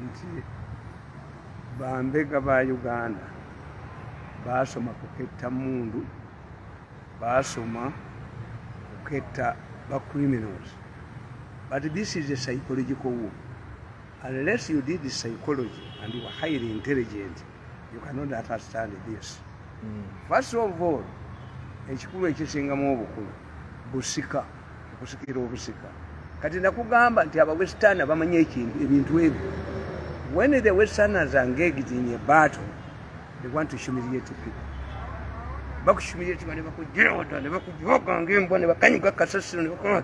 nti bambega ba uganda baasoma kuketta mundu baasoma kuketta ba criminals but this is a psychological war unless you did psychology and you are highly intelligent you cannot understand this mm. first of all ekikulu ekisingamu obukulu busika okusikira obusika kati nakugamba nti aba western bamanyi ekintu ebintu ebyo when the westerners are engaged in a battle they want to humiliate people bakuhumiliatinga nebakujiraota nebakujoganga embwa nebakanyuga kasasiro nebakona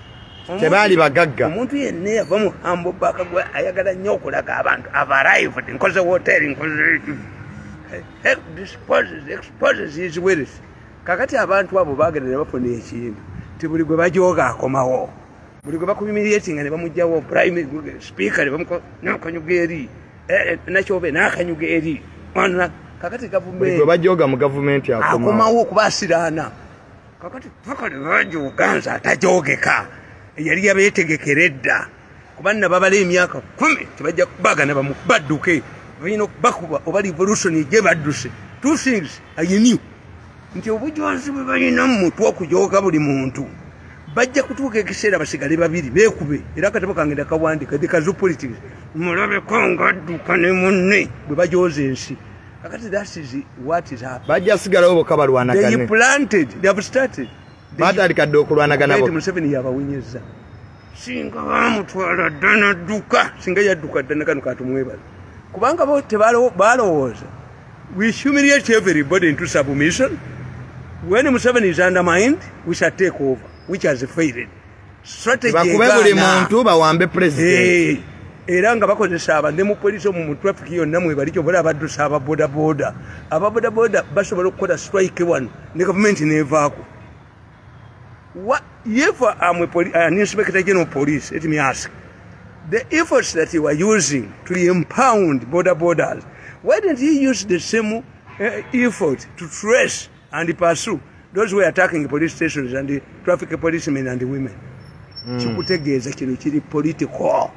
tebaali bagagga omuntu yenna yava mu hambo baka gwe ayagala nnyo okulaga abantu ava arrived nkoze woteri nkoze disposes exposes his wealth kakati abantu abo bagenda ne bafuna ekintu ti buli gwe bajooga akomawo buli gwe bakumimiryetinga ne bamugjawo prime speaker nakanyuga eri eh, eh, nakyobe nakanyuga eri kakati gavumenti bajooga mu gavumenti akomawo okuba asiraana kakati fakale bangi uganza atajogeka eyali yabetegekera edda kubanna babala emyaka kumi tebajja kubagana baduke balina okubakuba oba revolution eje badduse two things ayinew nti obujonzi bwe balina mu mutwe okujoga buli muntu bajja kutuuka ekiseera basigale babiri bekube era akatabo kange ndakawandika the kazu politics mulabeko nga adduka ne munne bwe bajooza ensi kakati that is what is happening bajja sigalawo boka balwanagane they planted they have started batandika dde okulwanagana bo museveni yabawunyeza singa bamutwala ddana dduka singa yadduka ddana kano katumwebala kubanga bo tebalowooza we humiliate everybody into submission when museveni is undermined we shall take over which has failed strategy bakube buli muntu bawambe president hey. era nga bakozesa aba ne mu poliisi omu mu traffic yonna mwebali kyobola abaddusa aba bodaboda aba bodaboda basobola okukola strike wano ne gavumenti nevaako yefa amwe an inspector general police let me ask the efforts that you are using to empound bodabodas why didn't you use the same uh, effort to trace and pursue those who are attacking police stations and the traffic policemen and the women mm. kikutegeeza kino kiri political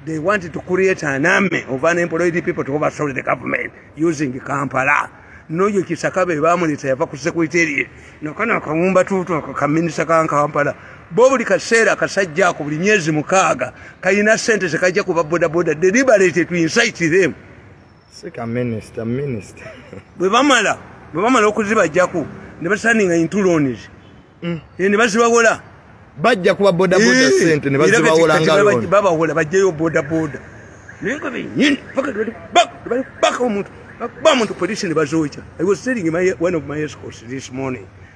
they want to create an army of unemployed people to overthrow the government using kampala noyo kisaka be bamuleta yava ku secretary nokana akawumba tutu akaminisa ka kampala bo buli kaseera akasajja ako buli myezi mukaaga kalina sente zekajja kuba bodaboda deliberate to incite them sika minister minister bwe bamala bwe bamala okuzibajjako ne basaninga intulonis mm. eh, ne bazibawola bajja kuba bodaboda eh, sente ne bazibawola ngaloni babawola bajjayo bodaboda naye nga benyini paka bali baka omuntu bakuba muntu polisi ne bazoja i was telling my, one of my escorts this morning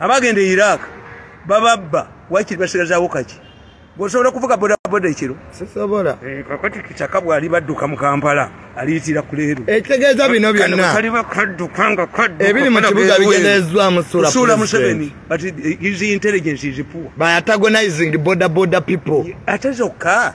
abagenda e iraq bababba wakiri basigazaawo kaki gwosobola okuvuga bodaboda ekiro sisobola eh, kakati kitaka bwali badduka mu kampala aliyitira kuleero ekitegeeza eh, bino byonnakali bakadduka nga ebiri mu kibuga bigenderezzwamu suula museveni but his intelligence is poor by antagonizing bodaboda people ate zokka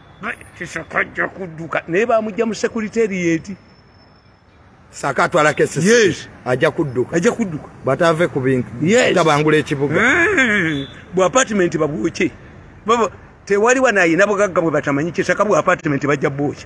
kisakajja kudduka naye bamujja mu sekuriteriyeti saka atwala kesisi yes. ajja kudduka ajja kudduka bataave ku bintu yes. tabangula ekibuga mm. bwa apartment babwoke baba tewali wanayina bugagga bwe batamanyi kisaka bwa apartment bajja bwoki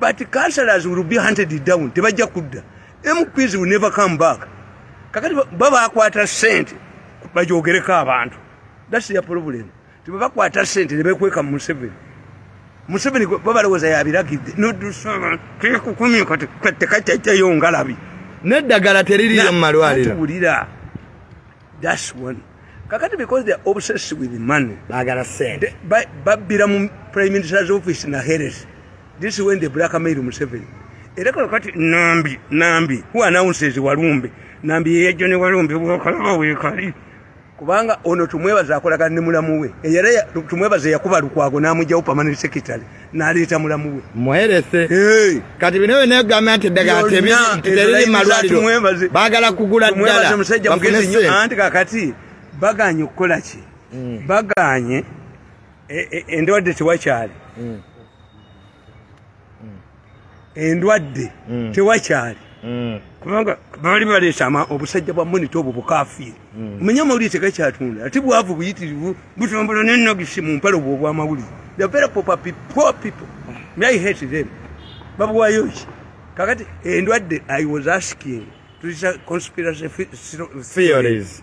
but councillors will be hunted down tebajja kudda mps will never come back kakati babakwata sente bajogereko abantu that's their problem tebabakwata sente nebekweka museveni museveni babalowooza yabiragidde nodusaba kekukumye kati katekacacayongalabi neddagala teririyo mumalwaliro That's one. Kakati because they are obsessed with money. Bagala send. But but bila mu prime minister's office na Harris. This is when they blackmail Museveni. Era kwa kati nambi nambi who announces walumbe nambi yejo ne walumbe bwakola we kali. Kubanga ono tumwebaza akola kanimula muwe. Eyara tumwebaza yakuba lukwago namujawo permanent secretary. naleeta mulamu we muherese kati bino byona egamba nti eddagala teriri malwaliro bagala kugula ddala musajja mugezi nyo anti kakati baganye okukola ki mm. baganye e, e, endwadde tewakyali mm. endwadde mm. tewakyali mm. kubanga bali baleeta obusajja bwa monita obwo bukafiiri mm. manya amawulire tegakyatunda ate bwavu buyitirivu butambola nenagisi mu mpale obwo obwamawulire the very poor people i hate them babuwayo ki kakati endwadde i was asking tuzisa conspiracy theories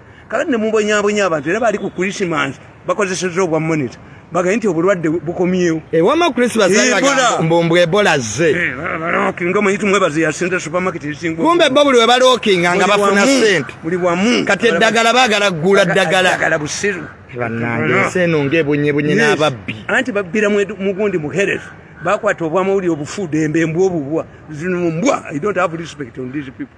kala ne mubonyabonya abantu era bali ku christmas bakozeseza obwa monitor bagaye nti obulwadde bukomyewo ewama eh, christmas mbumbu ebola zze eh, nga muyiti mwebazi yasente supermarket esinga kumbe bo buli webalookinga nga bafuna sente buli wamu kati eddagala bagala kugula ddagala busiru banange ensi eno ngaebunyebunye n'ababbi anti babbira mugundi muhereza bakwata obwamawuli obufuudembe mbwa obubwa zinumbwa i don't have respect on these people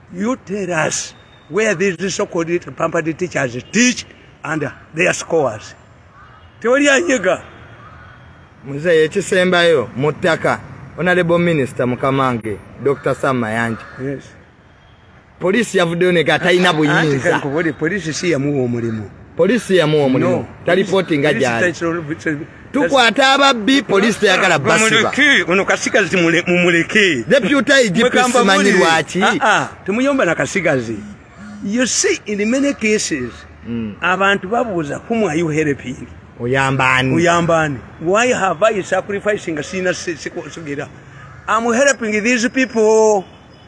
You tell us where these so-called pampered teachers teach and their scores. Tewali anyega. Mzee, ekisembayo mu ttaka honorable minister mukamange Dr. Sam Mayanja. Yes. Poliisi yavuddeyo nega talina buyinza. Poliisi si yamuwa omulimu. Poliisi yamuwa omulimu. No. Talipooti nga gyali. tukwata ababbi poliisi teyagala basiba ono kasigazi mumuleke deputa igipisi manyi lwaki ah, ah, temuyomba na kasigazi you see in many cases mm. abantu babuuza whom are you helping oyambani oyambani why have i sacrificing sina sigera i'm helping these people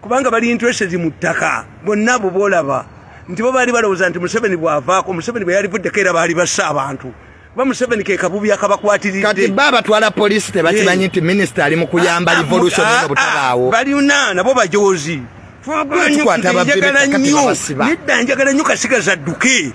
kubanga bali interested mu ttaka bonna abo boolaba nti bo baali balowooza nti museveni bw'avaako museveni bwe yalivuddeko era baali bassa abantu kuba museveni ke kabubi akabakwatiridde ba batwala poliisi tebakimanyi nti minisita ali mu kuyamba ah, ah, revolution eno ah, butabaawo balina nabo bajoozi twagala nnyo nedda njagala nnyo kasigaza dduke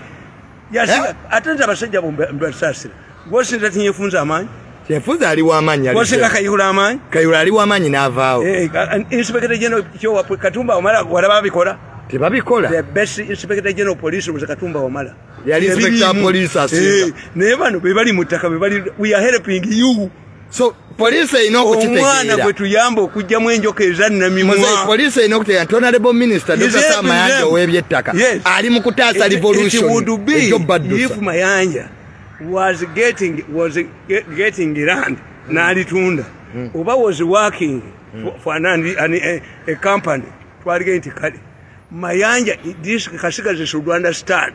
yasiga eh? ate nti abasajja bombasaasira gwosinza tinyefunza amaanyi kyefunza ali wamaanyi gwosinga kayihula amaanyi kayihula ali wamaanyi n'avaawo eh, inspector general kyowa katumba omala wala babikola tebabikola the best inspector general police was katumba omala yali inspector police asiza eh, naye bano bebali mu ttaka bebali we are helping you so police erina okukitegeraomwana gwe tuyamba okugyamu enjoka ezannamimwapolice erina okutegera nti onalebo minisita dr mayanja ow'ebyettaka ali mu kutaasa revolutionejobadusa mayanja was getting, was getting land hmm. n'alitunda hmm. oba was working hmm. for an, an, an, a, a company twalige nti kale mayanja this kasigazi should understand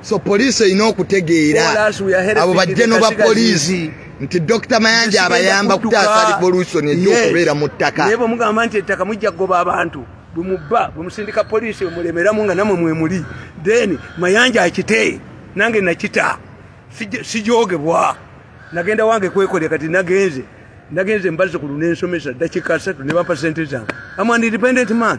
so poliisi erina okutegeera abo bajje noba poliisi nti dr mayanja abayamba okutaasa revolution ekyokubeera mu ttaka naye bwemugamba nti ettaka mujja kugoba abantu bwemubba bwemusindika poliisi bwemulemeramu nga namwe mwemuli then mayanja akite nange nakita sijogebwa nagenda wange kwekolera kati nagenze nagenze mbaze ku lunensomesa dakika asatu nebampa sente zange am an independent man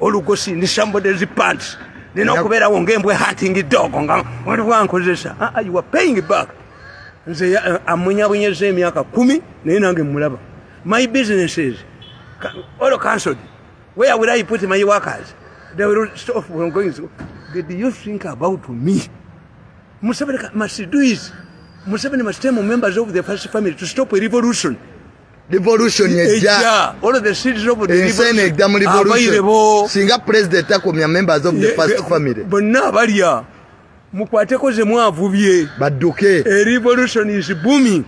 olugosi ndi somebody is pants nina okubeerawo ngembwe hunting dog nga waliwankozesa ah, ah, you are paying back nze eh, amunyabunyeza emyaka kumi naye nange mulaba my businesses all cancelled where will i put my workers they will stop from going so did you think about me museveni must do is museveni must tell members of the first family to stop a revolution revolution ejja all of the seeds of the insane ejja mu revolution singa president takomya members of the first family bonna balya mukwateko ze mwavubye badduke a revolution is booming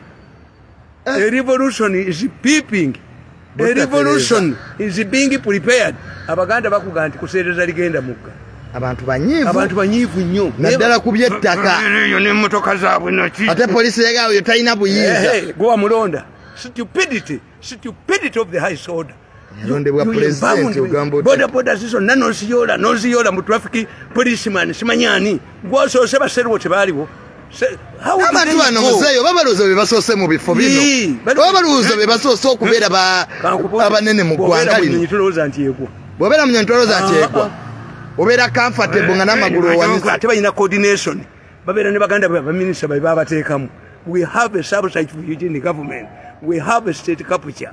a eh. revolution is peeping a revolution is being prepared abaganda bakuga nti kuseereza ligenda mugga abantu banyivu abantu banyivu nnyo naddala ku byettaka eyo n'emmotoka zaabwe naki ate poliisi yegaawo yo talina buyinza gwe wamulonda stupidity stupidity of the high order yalondebwa pulezidenti ogamba oti bodaboda zizo na noziyoola noziyoola mu traffic policeman simanyi ani gwosoose baserwo tebaaliwo abantu bano muzeeyi oba balowooza be basoose mu bifo bino oba balowooza be basoose okubeera abanene mu ggwanga lino bwobeera munyonyi tolowooza nti egwa obeera comfortable nga n'amagulu owanise balina coordination babeera ne baganda be baminisita babe babateekamu we have a subsite for eugene government we have a state capital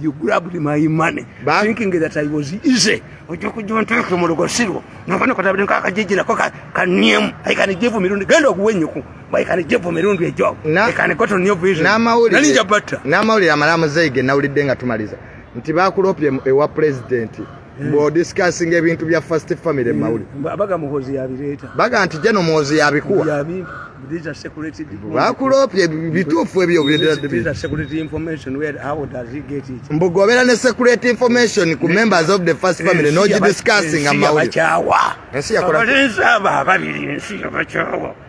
You grabbed my money, ba? thinking that I was easy. Ojo kujo nteke mu lugosiro. Nabana kwa tabiri nkaka jiji na koka kaniemu. I can give you mirundi. Gendo kuwe nyuku. But I can give you mirundi ya job. Na, I can go to new vision. Na mauli. Na ninja bata. Na mauli ya malamu zege na uli denga tumaliza. Ntibaku lopi ewa presidenti. Eh. bwo discussing ebintu bya first family eh, mawuli abaga muhozi yabireta baga nti jeno muhozi yabikuwa yabi these are security bakulopye bitufu ebyo these are security information where how does he get it mbugobera ne security information ku members of the first family eh, no discussing amawuli nsi yakola nsi yakola nsi yakola nsi yakola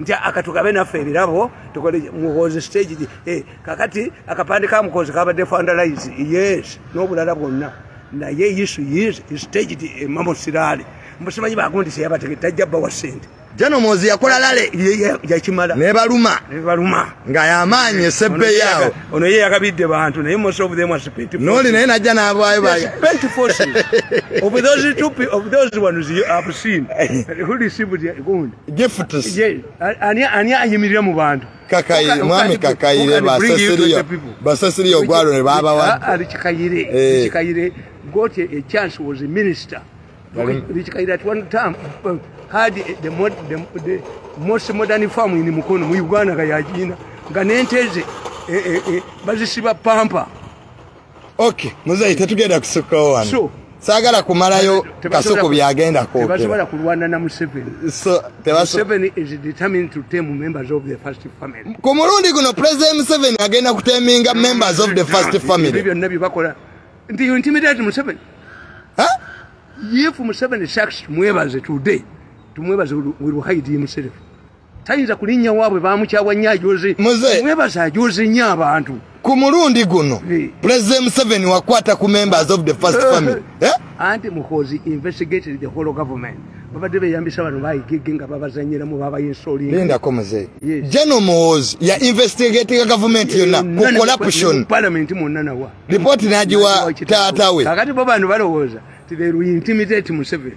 nti akatugabe naffe ebirabo tukole muhoozi stage eh, kakati akapande ka muhoozi kabadde fandalize yes n'obulala bwonna naye isu is staged emamo eh, siraale mbusimanyi bagundi seyabatege tajja bawa sente jano mozi yakola lale yakimala nebaluma nebaluma nga yamaanyi esebbe yaawo ono ye yakabidde bantu naye most of them spent noli naye najja nabwayo ba spent forces of those two of those ones you have seen who received the gold gifts ye ani ani ayimirira mu bantu kakayire mwami kakayire basasiriyo basasiriyo gwalo ne baba wa ali kikayire eh. kikayire got a, a chance was a minister which kayire at one time uh, had the, mod, the, the most modern farm in mukono mu uganda kayajina nga nenteze eh, eh, eh, bazisiba pampa okay muzeyi tetugenda kusukkawo wano sure. sagala kumalayo kasuku byagenda kwokeratebasubira kulwana na museveni so, museveni is determined to tame members of the first family ku mulundi guno president museveni agenda kuteminga members of the first family ebyo byonna byebakola nti you intimidate museveni if museveni sucks tumwebaze today tumwebaze will hide himself tayinza kulinnya waabwe baamukyawa nnyo ajoze mwebaza ajoze nnyo abantu ku mulundi guno pulezidenti museveni wakwata ku members of the first family eh? anti muhozi investigated the whole government babadde beyambisa bano bayigege nga babazanyiramu babayinsolingako muze jeno muhozi ya investigatinga gavumenti yonna ku corruption palamenti mwonna nawa lipooti nagiwa taatawe kakati bo bano balowooza ti they will intimidate museveni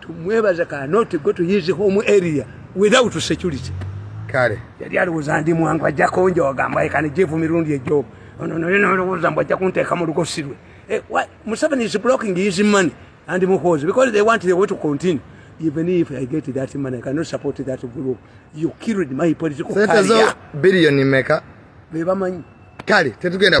tumwebaza kanoti go to his home area without security kale yali alowooza ndi mwangu ajja konja wagamba ekani jevu mirundi ejo ono naye nalowooza mbu ajja kunteeka mu lugosirwe eh, museveni is blocking his money and muhoozi because they want the way to continue even if i get that money i cannot support that group you killed my political career billion meka bebamanyi kale tetugenda